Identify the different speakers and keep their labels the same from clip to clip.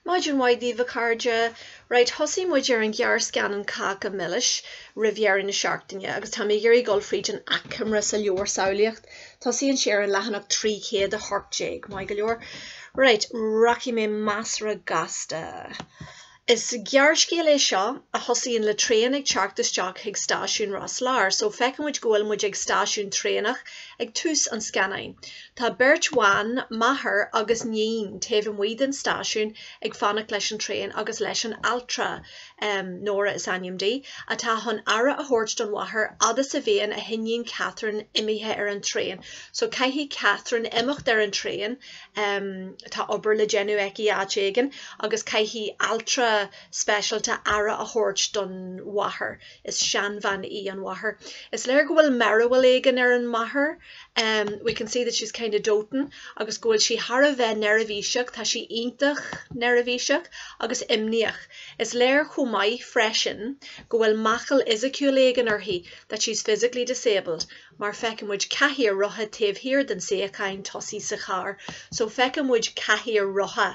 Speaker 1: Maidin mhaith daoibh a chairde. Right, thosaigh muid ar an ghearrscannán Cáca Milis roimh dheireadh na seachtaine agus táim ag iarraidh dul fríd an achoimre sa leabhar Samhlaíocht. Tosaíonn sé ar an leathanach 318, maith go leor. Right, rachaidh mé measartha gasta. Is gearrscéal é seo a thosaíonn le traein ag teacht isteach chuig stáisiún Ros Láir, so feiceann muid go bhfuil muid ag stáisiún traenach ag tús an scannáin. Tá beirt bhan, máthair agus iníon, taobh amuigh den stáisiún ag fanacht leis an traein agus leis an altra, Nóra is ainm di, atá chun aire a thabhairt don mháthair fhad is a bhíonn a hiníon Catherine imithe ar an traein, so caithfidh Catherine imeacht ar an traein, tá obair le déanamh aici áit éigin agus caithfidh altra speisialta aire a thabhairt don mháthair. Is seanbhean í an mháthair. Is léir go bhfuil mearbhall éigin ar an máthair, we can see that she's kind of doting, agus go bhfuil sí thar a bheith neirbhíseach, tá sí iontach neirbhíseach agus imníoch. Is léir chomh maith freisin go bhfuil máchail fhisiciúil éigin uirthi, that she's physically disabled. mar feiceann muid cathaoir rotha taobh thiar den suíochán tosaigh sa charr so feiceann muid cathaoir rotha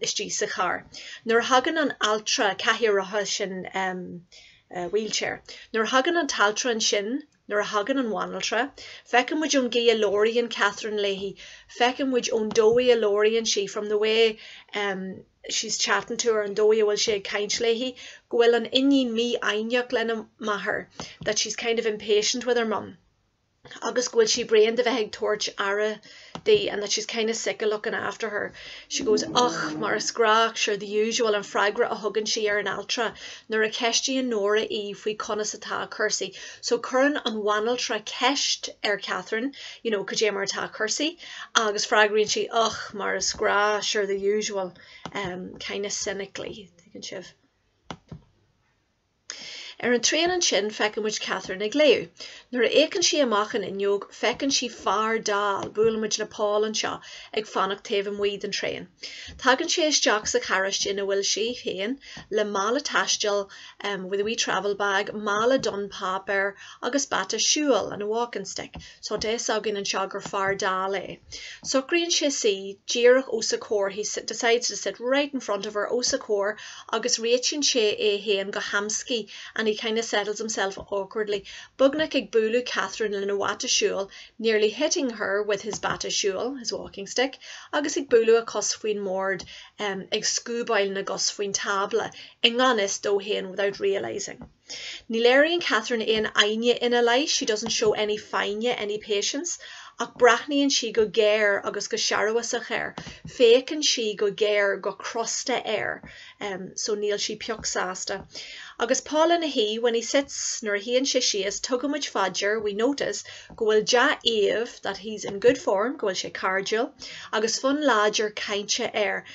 Speaker 1: istigh sa charr nuair a thagann an altra cathaoir rotha sin wheelchair nuair a thagann an t-altra ansin nuair a thagann an bhanaltra feiceann muid ón gcaoi a labhraíonn Catherine léi feiceann muid ón dóigh a labhraíonn sí from the way she's chatting to her an dóigh a bhfuil sí ag caint léi, go bhfuil an iníon mífhoighneach lena máthair that she's kind of impatient with her mum agus go bhfuil sí bréan de bheith ag tabhairt aire di and that she's kind of sick of looking after her. She goes, Och, mar is gnách sure the usual an freagra a thugann sí ar an altra nuair a cheistíonn Nóra í faoi conas atá cúrsaí. So cuireann an bhanaltra ceist ar Catherine, you know, cad é mar atá cúrsaí? Agus freagraíonn sí, Och, mar is gnách, sure, the usual, em, kind of cynically, an dtuigeann sibh. Ar an traein ansin feiceann muid Catherine ag léamh. Nuair a fhéachann sí amach an fhuinneog feiceann sí fear dall, buaileann muid le Paul anseo, ag fanacht taobh amuigh den traein. Tagann sé isteach sa charráiste ina bhfuil sí féin, le mála taistil, em, with a wee travel bag, mála donn páipéir, agus bata siúil, and a walking stick. Tá fhios againn ansin gur fear dall é. Socraíonn sé suí díreach os a comhair, he decides to sit right in front of her, os a comhair, agus réitíonn sé é féin go hamscaí, and he kinda settles himself awkwardly, beagnach ag bualadh Catherine lena bhata siúil, nearly hitting her with his bata siúil, his walking stick, agus ag bualadh a cos faoin mbord, ag scuabáil na gcos faoin tábla, i ngan fhios dó féin, without realising. Ní léiríonn Catherine aon fhoighne ina leith, she doesn't show any foighne, any patience, ach breathnaíonn sí go géar agus go searbhasach air, féachann sí go géar, go crosta, air, so níl sí pioc sásta. Agus Paul ina shuí, when he sits, nuair a shuíonn sé síos, tugaimid fá dear, we notice, go bhfuil dea-aoibh, that he's in good form, go bhfuil sé cairdiúil, agus fonn láidir cainte air,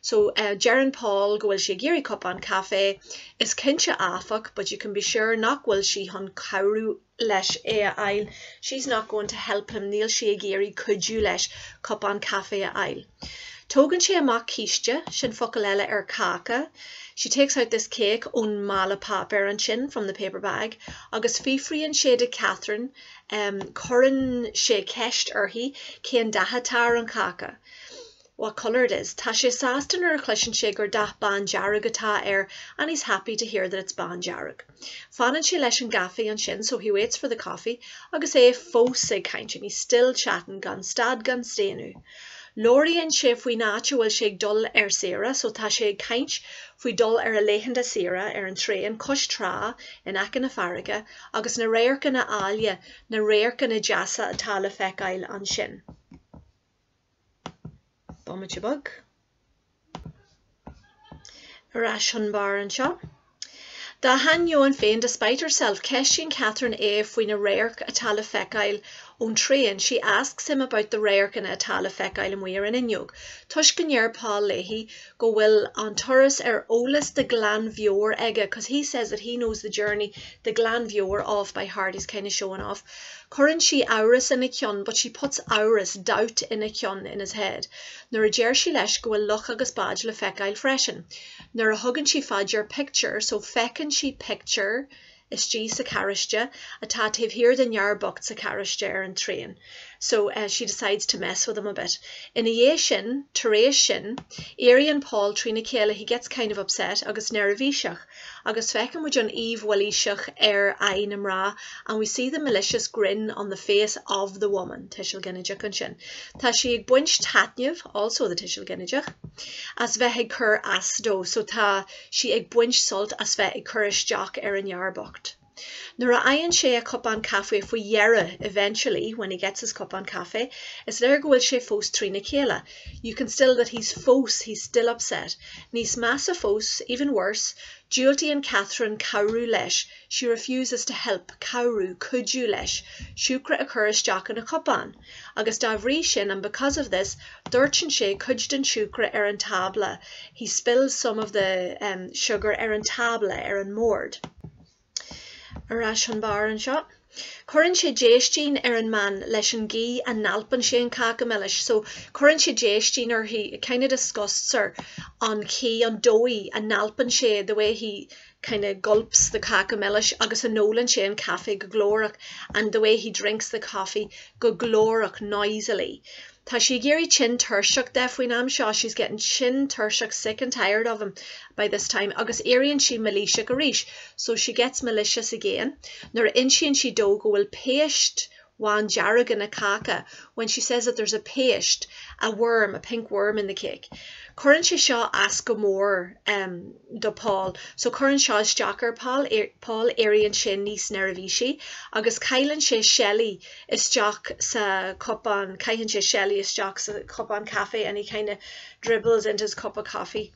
Speaker 1: So, deireann Paul go bhfuil sé ag iarraidh cupán caife. Is cinnte áfach, but you can be sure, nach bhfuil sí chun cabhrú leis é a fháil. She's not going to help him, níl sí ag iarraidh cuidiú leis cupán caife a fháil. Tógann sé amach císte, sin focal eile ar cáca. She takes out this cake ón mála páipéir ansin, from the paper bag, agus fiafraíonn sé de Catherine, cuireann sé ceist uirthi, cén dath atá ar an cháca. What colour it is, tá sé sásta nuair a chloiseann sé gur dath bándearg atá air and he's happy to hear that it's bándearg. Fanann sé leis an gcaife ansin so he waits for the coffee agus é fós ag caint and he's still chatting gan stad gan staonadh. Labhraíonn sé faoin áit a bhfuil sé ag dul ar saoire so tá sé ag caint faoi dul ar a laethanta saoire ar an traein cois trá in aice na farraige agus na radharcanna áille na radharcanna deasa atá le feiceáil ansin. Bomaite beag. Ar ais chun bairr anseo. Dá hainneoin féin, despite herself, ceistíonn Catherine é faoi na radhairc atá le feiceáil ón traein, she asks him about the radharcanna atá le feiceáil amuigh ar an fhuinneog, toisc go ndeir Paul léi go bhfuil an turas ar eolas de ghlanmheabhair aige cause he says that he knows the journey de ghlanmheabhair off by heart, he's kind of showing off. Cuireann sí amhras ina cheann but she puts amhras, doubt, ina cheann in his head nuair a deir sí leis go bhfuil loch agus báid le feiceáil freisin. Nuair a thugann sí fá dear pictiúr so feiceann sí pictiúr istigh sa charráiste atá taobh thiar den fhear bocht sa charráiste ar an traein so she decides to mess with him a bit. Ina dhiaidh sin, tar éis sin, éiríonn Paul trína chéile he gets kind of upset agus neirbhíseach agus feiceann muid an aoibh mhailíseach ar aghaidh na mná and we see the malicious grin on the face of the woman tuiseal ginideach ansin tá sí ag baint taitneamh also the tuiseal ginideach as bheith ag cur as dó so tá sí ag baint sult as bheith ag cur isteach ar an fhear bocht. Nuair a fhaigheann sé a chupán caife faoi dheireadh, eventually, when he gets his cupán caife, is léir go bhfuil sé fós trína chéile, you can still that he's fós, he's still upset. Níos measa fós, even worse, diúltaíonn Catherine cabhrú leis, she refuses to help cabhrú, cuidiú, leis siúcra a chur isteach ina chupán. Agus dá bhrí sin, and because of this, doirteann sé cuid den siúcra ar an tábla, he spills some of the, um, sugar ar an tábla, ar an mbord. Ar ais chun bairr anseo. Cuireann sé déistín ar an mbean leis an gcaoi a n-alpann sé an cáca milis, so, cuireann sé déistín uirthi, it kind of disgusts her, an chaoi, an dóigh, a n-alpann sé, the way he, kind of gulps the cáca milis agus a n-ólann sé an caife go glórach and the way he drinks the coffee go glórach noisily Tá sí ag éirí tinn tuirseach de faoin am seo she's getting tinn tuirseach sick and tired of him by this time agus éiríonn sí mailíseach arís so she gets malicious again Nuair a insíonn sí dó go bhfuil péist bhándearg ina cáca when she says that there's a péist, a worm, a pink worm in the cake. Cuireann seo as go mór do Paul so cuireann seo isteach ar Paul, éiríonn sé níos neirbhísí agus cailleann sé seilí isteach sa cupán, caitheann sé seilí isteach sa chupán caife and he kind of dribbles into his cup of coffee.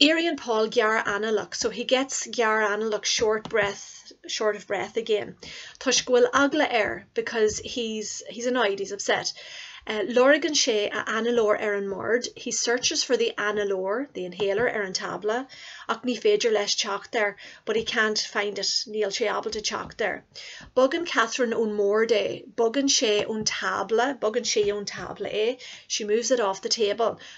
Speaker 1: Éiríonn Paul gearr-analach, so he gets gearr-analach, short breath, short of breath, again, toisc go bhfuil eagla air, because he's, he's annoyed, he's upset. Lorgann sé a análóir ar an mbord, he searches for the análóir, the inhaler, ar an tábla, ach ní féidir leis teacht air, but he can't find it, níl sé ábalta teacht air. Bogann Catherine ón mbord é, bogann sé ón tábla, bogann sí ón tábla é, she moves it off the table.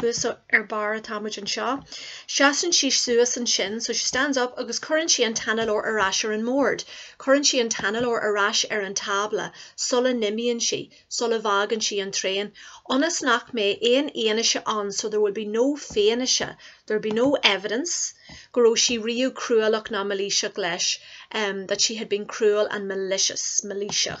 Speaker 1: thuas ar barr atá muid anseo. Seasann sí suas ansin, so she stands up, agus cuireann sí an t-análóir ar ais ar an mbord. Cuireann sí an t-análóir ar ais ar an tábla sula n-imíonn sí, sula bhfágann sí an traein. Ionas nach mbeidh aon fhianaise ann, so there will be no fianaise, there will be no evidence, go raibh sí riamh cruálach ná mailíseach leis, that she had been cruel and malicious, mailíseach.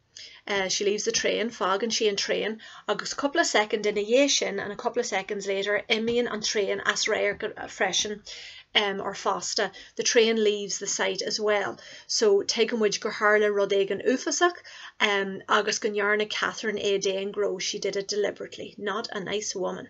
Speaker 1: She leaves the train, fágann sí an traein, agus cúpla soicind ina dhiaidh sin, and a couple of seconds later, imíonn an traein as radharc freisin, um, or fosta, the train leaves the sight as well. So, tuigeann muid gur tharla rud éigin uafásach, um, agus go ndearna Catherine é d'aon ghnó, she did it deliberately, not a nice woman.